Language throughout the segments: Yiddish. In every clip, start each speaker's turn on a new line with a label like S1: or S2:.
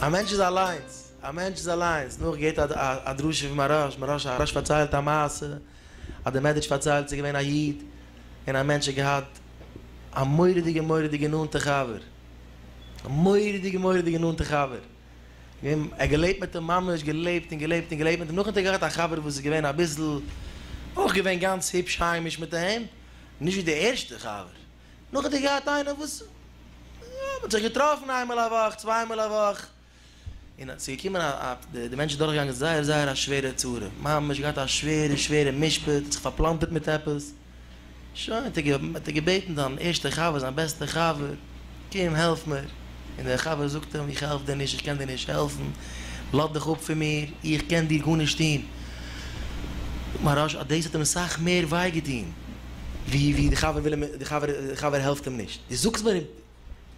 S1: א מענטש איז אליינס, א מענטש איז אליינס, נח געבט א דרשה פון מהרש, מהרש פארציילט א מעשה אז דער מערדעטש פארציילט ס'איז געווען א איד און א מענטש האט געהאט א מורא'דיגע מורא'דיגע נאנטע חבר, א מורא'דיגע מורא'דיגע נאנטע חבר, אים ער געלעבט מיט אים ממש געלעבט און געלעבט און געלעבט מיט אים נאכדעם האט ער געהאט א חבר וואס איז געווען אביסל אויך געווען גאנץ היפש היימיש מיט אים נישט ווי די ערשטע חבר נאך האט ער געהאט איינער וואס יא מ'האט זיך געטראפן איינמאל א וואך צוויי מאל א וואך און ס'איז געקומען א א די מענטש איז דורך געגאנגען זייער זייער א שווערע צרה ממש געהאט א שווערע שווערע משפט האט זיך פארפלאנטערט מיט עפעס. שוין האט ער האט ער געבעטן זיין ערשטע חבר זיין בעסטע חבר קום העלף מיר און דער חבר זאגט אים איך העלף דיר נישט איך קען דיר נישט העלפן לאז דיך אפ פון מיר איך קען דיר גארנישט טון מהרש א דאס האט אים סאך מער וויי געטון ווי ווי די חבר וויל אים די חבר העלפט אים נישט די זאגסט מיר.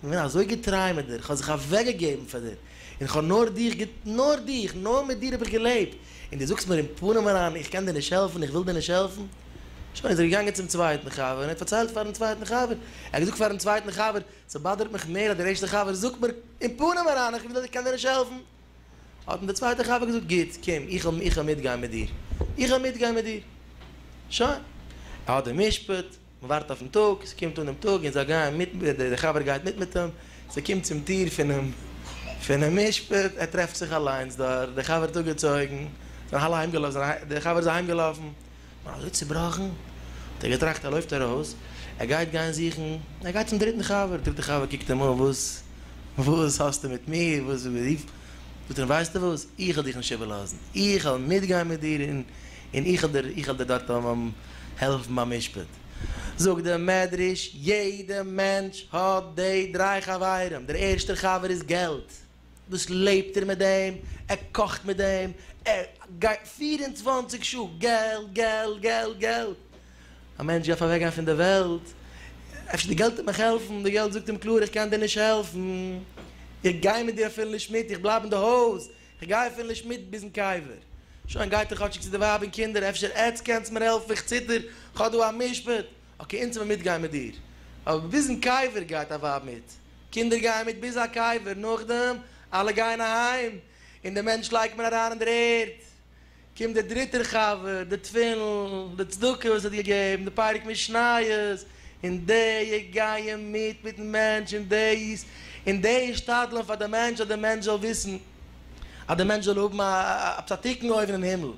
S1: איך בין אזוי געטריי מיט דיר, איך האב זיך אוועקגעגעבן פאר דיר, און איך האב נאר דיך געט, נאר דיך, נאר מיט דיר האב איך געלעבט, און דו זאגסט מיר אין פנים אריין איך קען דיר נישט העלפן, איך וויל דיר נישט העלפן? שוין איז ער געגאנגען צום צווייטן חבר און ער האט פארציילט פארן צווייטן חבר, ער האט געזאגט פארן צווייטן חבר, ס'באדערט מיך מער אז דער ערשטער חבר זאגט מיר אין פנים אריין איך וויל, איך קען דיר נישט העלפן, האט אים דער צווייטער חבר געזאגט גוט, קום איך וועל מיטגיין מיט דיר, איך וועל מיטגיין מיט דיר, שוין, ער האט די משפט. מען ווארט אויפן טאג, ס'קומט אן דעם טאג און זיי גייען מיט, דער חבר גייט מיט מיט אים, ס'קומט צום טיר פונעם פונעם משפט, ער טרעפט זיך אליינס דארט, דער חבר האט אפגעצויגן, זיי האלא אהיימגעלאפן, דער חבר איז אהיימגעלאפן, נאר אזוי צובראכן, האט ער געטראכט ער לויפט ארויס, ער גייט גיין זוכן, ער גייט צום דריטן חבר, דער דריטער חבר קוקט אים אן, וואס וואס האסטו מיט מיר, וואס רופט, זאגט ער אים ווייסטו וואס, איך וועל דיך נישט איבערלאזן, איך וועל מיטגיין מיט דיר און. און איך וועל דיר, איך וועל דיר דארט העלפן ביים משפט. זאגט דער מדרש, יעדע מענטש האט די דריי חברים, דער ערשטער חבר איז געלט, דאס לעבט ער מיט דעם, ער קאכט מיט דעם, ער גייט פֿיר און צוואַנציק שעה געלט, געלט, געלט, געלט. א מענטש דארף אוועקגיין פון די וועלט, אפשר די געלט וועט מיך העלפן, די געלט זאגט אים קלאר איך קען דיר נישט העלפן, איך גיי מיט דיר אפילו נישט מיט, איך בלייב אין די הויז, כ'גיי אפילו נישט מיט ביזן קבר. שוין, גייט איר כאטשיג צו די ווייב און קינדער, אפשר עטץ קענטס מיר העלפן, איך ציטער, כ'האב דא א משפט. אקעי, אונז וועלן מיטגיין מיט דיר. אבער ביזן קבר גייט א ווייב מיט. קינדער גייען מיט ביז א קבר, נאכדעם, אלע גייען אהיים, און דעם מענטש לייגט מען אריין אין דער ערד. קומט דער דריטער חבר, די תפילין, די צדקה וואס ער האט געגעבן, די פרק משניות, און די גייען מיט מיטן מענטש אין דאס, און די השתדלען פאר די מענטש אז די מענטש זאל וויסן, אז די מענטש זאל האבן א א צדיקן אויבן אין הימל,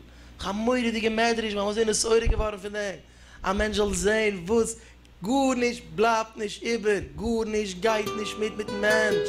S1: א מורא'דיגע מדרש, מיר האבן אזוי נשערה געווארן פון דעם, א מענטש זאל זען וואס גארנישט בלייבט נישט איבער, גארנישט גייט נישט מיט מיטן מענטש.